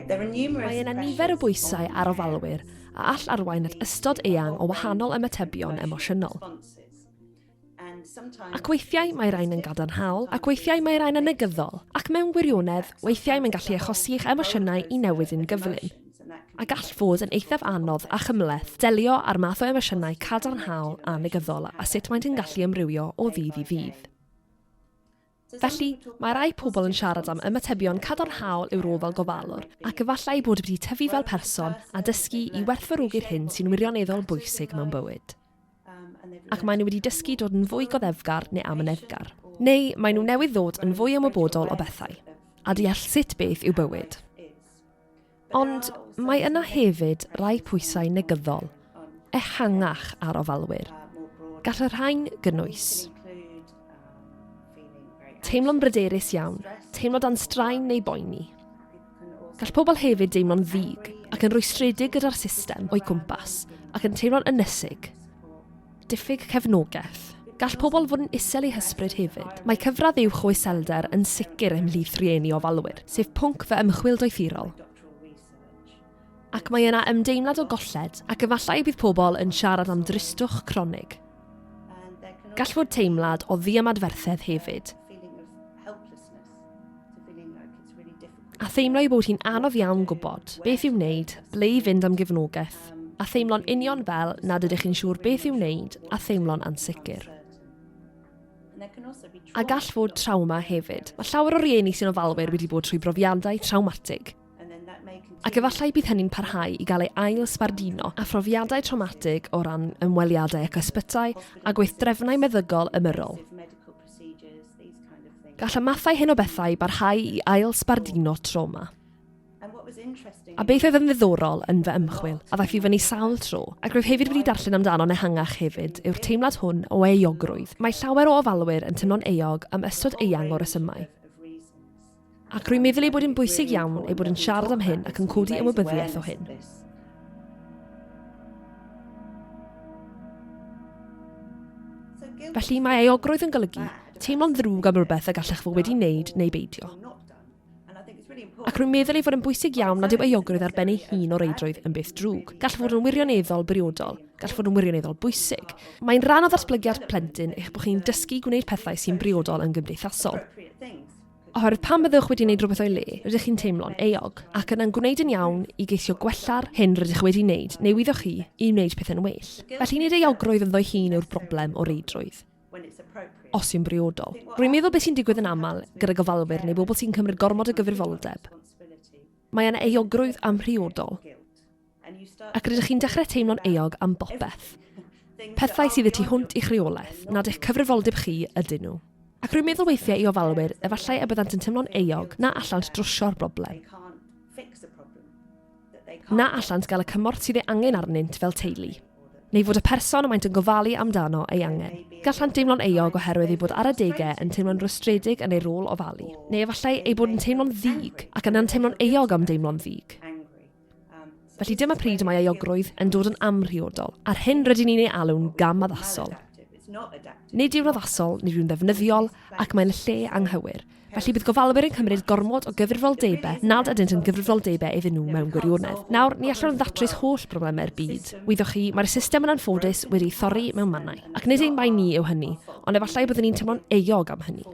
Mae yna nifer o bwysau ar ofalwyr a all arwain at ystod eang o wahanol ymatebion emosiynol. Ac weithiau mae rhain yn gadarnhaol, ac weithiau mae rhain yn negyddol, ac mewn gwirionedd, weithiau mae'n gallu achosi i'ch emosiynau i newid yn gyflym. a gall fod yn eithaf anodd a chymhleth delio â'r math o emosiynau cadarnhaol a negyddol a sut maent yn gallu ymrywio o ddydd i ddydd. Felly, mae rai pobl yn siarad am ymatebion cadarnhaol i'w rôl fel gofalwr, ac efallai bod wedi tyfu fel person a dysgu i werthfawrogi'r hyn sy'n wirioneddol bwysig mewn bywyd. ac maen nhw wedi dysgu dod yn fwy goddefgar neu amyneddgar. Neu maen nhw newydd ddod yn fwy ymwybodol o bethau, a deall sut beth yw bywyd. Ond mae yna hefyd rai pwysau negyddol, ehangach ar ofalwyr. Gall y rhain gynnwys teimlo'n bryderus iawn, teimlo dan straen neu boeni, Gall pobl hefyd deimlo'n ddig ac yn rwystredig gyda'r system o'i cwmpas ac yn teimlo'n ynysig. Diffyg cefnogaeth. Gall pobl fod yn isel eu hysbryd hefyd. Mae cyfradd uwch o iselder yn sicr ymhlith rhieni ofalwyr, sef pwnc fy ymchwil doethurol. Ac mae yna ymdeimlad o golled ac efallai bydd pobl yn siarad am dristwch cronig. Gall fod teimlad o ddiymadferthedd hefyd. A theimlo ei bod hi'n anodd iawn gwybod beth i'w wneud, ble i fynd am gefnogaeth, a theimlo'n union fel nad ydych chi'n siŵr beth i'w wneud a theimlo'n ansicr. A gall fod trawma hefyd. Mae llawer o rieni sy'n ofalwyr wedi bod trwy brofiadau trawmatig, ac efallai bydd hynny'n parhau i gael ei ail sbardino a phrofiadau traumatig o ran ymweliadau ac ysbytai a gweithdrefnau meddygol ymyrrol. Gall y mathau hyn o bethau barhau i ail sbardino trauma. A beth oedd yn ddiddorol yn fy ymchwil, a ddaeth i fyny sawl tro, ac rwyf hefyd wedi darllen amdano'n ehangach hefyd, yw'r teimlad hwn o euogrwydd. Mae llawer o ofalwyr yn teimlo'n euog am ystod eang o resymau. Ac rwy'n meddwl ei bod yn bwysig iawn ei bod yn siarad am hyn ac yn codi ymwybyddiaeth o hyn. Felly mae eogrwydd yn golygu teimlo'n ddrwg am rhywbeth y gallech fod wedi wneud neu beidio. Ac rwy'n meddwl ei fod yn bwysig iawn nad yw eogrwydd ar ben ei hun o reidrwydd yn beth drwg. Gall fod yn wirioneddol briodol, gall fod yn wirioneddol bwysig. Mae'n rhan o ddatblygiad plentyn eich bod chi'n dysgu gwneud pethau sy'n briodol yn gymdeithasol. Oherwydd pan byddwch wedi wneud rhywbeth o'i le, rydych chi'n teimlo'n euog, ac yna'n gwneud yn iawn i geisio gwella'r hyn rydych chi wedi wneud neu wyddoch chi i wneud pethau'n well. Felly nid euogrwydd ynddo'i hun yw'r broblem o reidrwydd, os yw'n briodol. Rwy'n meddwl beth sy'n digwydd yn aml gyda gofalwyr neu bobl sy'n cymryd gormod o gyfrifoldeb, mae yna euogrwydd amhriodol. Ac rydych chi'n dechrau teimlo'n euog am bopeth. Pethau sydd y tu hwnt i'ch rheolaeth, nad eich cyfrifoldeb chi ydyn nhw. Ac rwy'n meddwl weithiau i ofalwyr, efallai y byddant yn teimlo'n euog na allant drwsio'r broblem, na allant gael y cymorth sydd ei angen arnynt fel teulu, neu fod y person y maent yn gofalu amdano ei angen. Gallant deimlo'n euog oherwydd eu bod ar adegau yn teimlo'n rwystredig yn eu rôl ofalu, neu efallai eu bod yn teimlo'n ddig ac yna'n teimlo'n euog am deimlo'n ddig. Felly dyma pryd y mae euogrwydd yn dod yn amhriodol, a'r hyn rydyn ni'n ei alw'n gam addasol. Nid yw'n addasol, nid yw'n ddefnyddiol, ac mae'n lle anghywir. Felly bydd gofalwyr yn cymryd gormod o gyfrifoldebau nad ydynt yn gyfrifoldebau iddyn nhw mewn gwirionedd. Nawr, ni allwn ddatrys holl broblemau'r byd. Wyddoch chi, mae'r system yn anffodus wedi ei thorri mewn mannau. Ac nid ein bai ni yw hynny, ond efallai byddwn ni'n teimlo'n euog am hynny.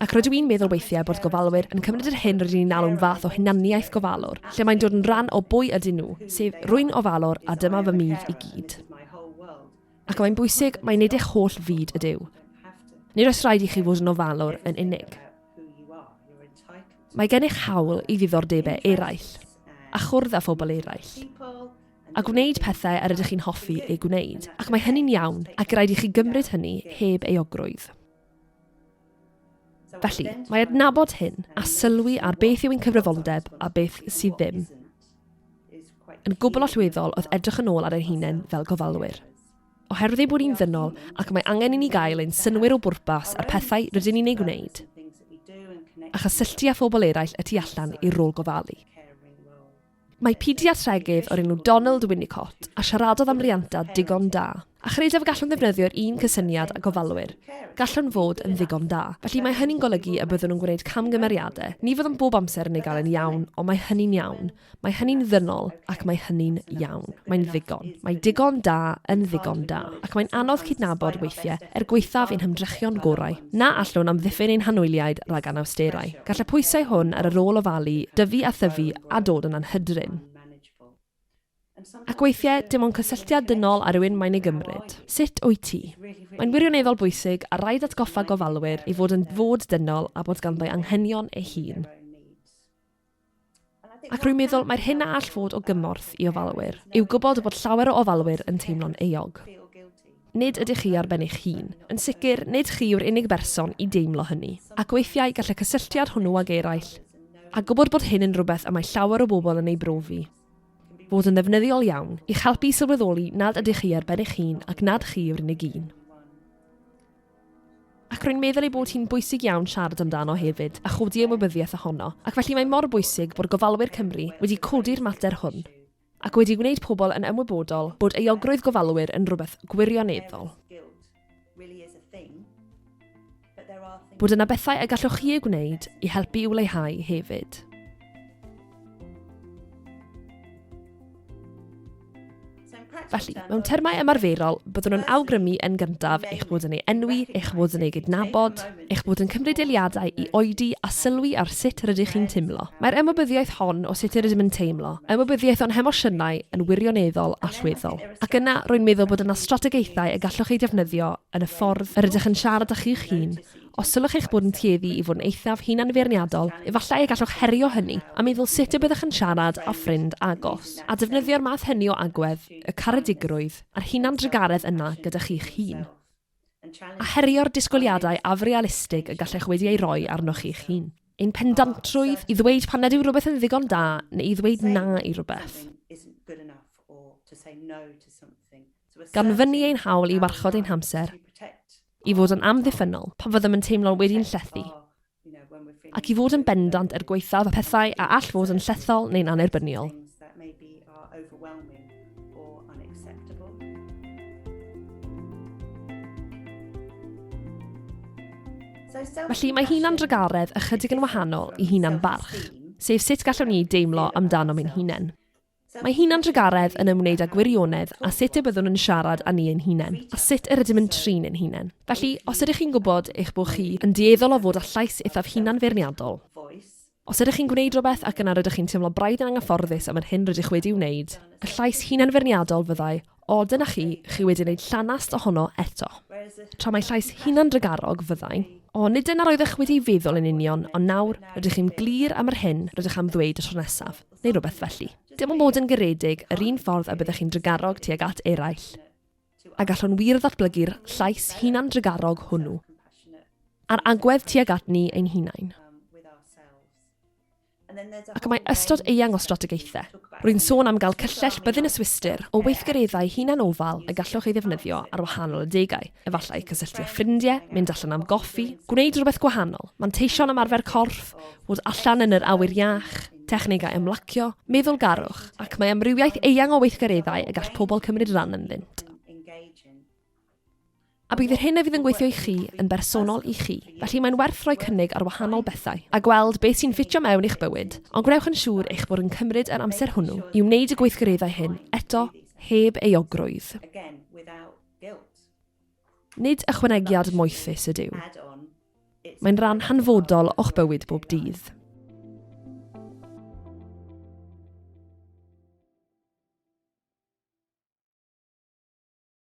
Ac rydw i'n meddwl weithiau bod gofalwyr yn cymryd yr hyn rydyn ni'n alw'n fath o hunaniaeth gofalwr, lle mae'n dod yn rhan o bwy ydyn nhw, sef, rwy'n ofalwr a dyma fy myd i gyd. Ac mae'n bwysig mai nid eich holl fyd ydyw. Nid oes rhaid i chi fod yn ofalwr yn unig. Mae gennych hawl i ddiddordebau eraill, a chwrdd â phobl eraill, a gwneud pethau yr ydych chi'n hoffi eu gwneud, ac mae hynny'n iawn, ac rhaid i chi gymryd hynny heb euogrwydd. Felly, mae adnabod hyn a sylwi ar beth yw ein cyfrifoldeb a beth sydd ddim yn gwbl allweddol oedd edrych yn ôl ar ein hunain fel gofalwyr. Oherwydd ei bod ni'n ddynol ac mae angen i ni gael ein synwyr o bwrpas a'r pethau rydyn ni'n ei gwneud, a chysylltu â phobl eraill y tu allan i'r rôl gofalu. Mae pediatregydd o'r enw Donald Winnicott a siaradodd am rianta digon da, a chredaf y gallwn ddefnyddio'r un cysyniad â gofalwyr, gallwn fod yn ddigon da. Felly mae hynny'n golygu y byddwn yn gwneud camgymeriadau, ni fyddwn bob amser yn ei gael yn iawn, ond mae hynny'n iawn, mae hynny'n ddynol ac mae hynny'n iawn. Mae'n ddigon. Mae digon da yn ddigon da. ac mae'n anodd cydnabod weithiau er gwaethaf ein hymdrechion gorau, na allwn amddiffyn ein hanwyliaid rhag anawsterau. Gall y pwysau hwn ar y rôl ofalu dyfu a thyfu a dod yn anhydrin. Ac weithiau, dim ond cysylltiad dynol â rhywun mae'n ei gymryd. Sut wyt ti? Mae'n wirioneddol bwysig a raid atgoffa gofalwyr ei fod yn fod dynol a bod ganddo anghenion ei hun. Ac rwy'n meddwl mai'r hyn a all fod o gymorth i ofalwyr yw gwybod bod llawer o ofalwyr yn teimlo'n euog. Nid ydych chi ar ben eich hun. Yn sicr, nid chi yw'r unig berson i deimlo hynny, ac weithiau gall y cysylltiad hwnnw ag eraill, a gwybod bod hyn yn rhywbeth y mae llawer o bobl yn ei brofi, fod yn ddefnyddiol iawn i'ch helpu i sylweddoli nad ydych chi ar ben eich hun ac nad chi yw'r unig un. Ac rwy'n meddwl ei bod hi'n bwysig iawn siarad amdano hefyd a chodi ymwybyddiaeth ohono, ac felly mae mor bwysig bod gofalwyr Cymru wedi codi'r mater hwn ac wedi gwneud pobl yn ymwybodol bod euogrwydd gofalwyr yn rhywbeth gwirioneddol. Bod yna bethau y gallwch chi eu gwneud i helpu i'w leihau hefyd. Felly, mewn termau ymarferol, byddwn yn awgrymu yn gyntaf eich bod yn ei enwi, eich bod yn ei gydnabod, eich bod yn cymryd eiliadau i oedi a sylwi ar sut rydych chi'n teimlo. Mae'r ymwybyddiaeth hon o sut yr ydym yn teimlo, ymwybyddiaeth o'n hemosiynau yn wirioneddol allweddol. Ac yna, rwy'n meddwl bod yna strategaethau y gallwch eu defnyddio yn y ffordd yr ydych yn siarad â chi'ch hun Os sylwch eich bod yn tueddu i fod yn eithaf hunanfeirniadol, efallai y gallwch herio hynny a meddwl sut y byddwch yn siarad â ffrind agos, a defnyddio'r math hynny o agwedd, y caredigrwydd a'r hunandrugaredd yna gyda chi'ch hun. A herio'r disgwyliadau afrealistig y gallech wedi eu rhoi arnoch chi'ch hun. Ein pendantrwydd i ddweud pan nad yw rhywbeth yn ddigon da neu i ddweud na i rywbeth. Gan fynnu ein hawl i warchod ein hamser, i fod yn amddiffynnol pan fyddem yn teimlo wedi'n llethu, ac i fod yn bendant er gwaethaf pethau a all fod yn llethol neu'n annerbyniol. Felly, mae hunan-drugaredd ychydig yn wahanol i hunan-barch, sef sut gallwn ni deimlo amdanom ein hunain. Mae hunan-drugaredd yn ymwneud â gwirionedd a sut y byddwn yn siarad â ni ein hunain, a sut yr ydym yn trin ein hunain. Felly, os ydych chi'n gwybod eich bod chi yn dueddol o fod â llais eithaf hunan-feirniadol, os ydych chi'n gwneud rhywbeth ac yna rydych chi'n teimlo braidd yn anghyfforddus am yr hyn rydych wedi'i wneud, y llais hunan-feirniadol fyddai, 'O, dyna chi, chi wedi gwneud llanast ohono eto'. Tra mai llais hunan-drugarog fyddai, 'O, nid dyna roeddech wedi'i feddwl yn union, ond nawr, rydych chi'n glir am yr hyn rydych am ddweud y tro nesaf. neu rhywbeth felly. Dim ond bod yn garedig yr un ffordd y byddech chi'n drugarog tuag at eraill. A gallwn wir ddatblygu'r llais hunan-drugarog hwnnw a'r agwedd tuag at ni ein hunain. Ac mae ystod eang o strategaethau. Rwy'n sôn am gael cyllell byddin y Swistir o weithgareddau hunan-ofal y gallwch ei ddefnyddio ar wahanol adegau, efallai cysylltu â ffrindiau, mynd allan am goffi, gwneud rhywbeth gwahanol, manteisio'n ymarfer corff, fod allan yn yr awyr iach, technegau ymlacio, meddylgarwch, ac mae amrywiaeth eang o weithgareddau y gall pobl cymryd rhan ynddynt. A bydd yr hyn a fydd yn gweithio i chi yn bersonol i chi, felly mae'n werth rhoi cynnig ar wahanol bethau a gweld beth sy'n ffitio mewn i'ch bywyd, ond gwnewch yn siŵr eich bod yn cymryd yr amser hwnnw i wneud y gweithgareddau hyn, eto, heb euogrwydd. Nid ychwanegiad moethus ydyw. Mae'n rhan hanfodol o'ch bywyd bob dydd.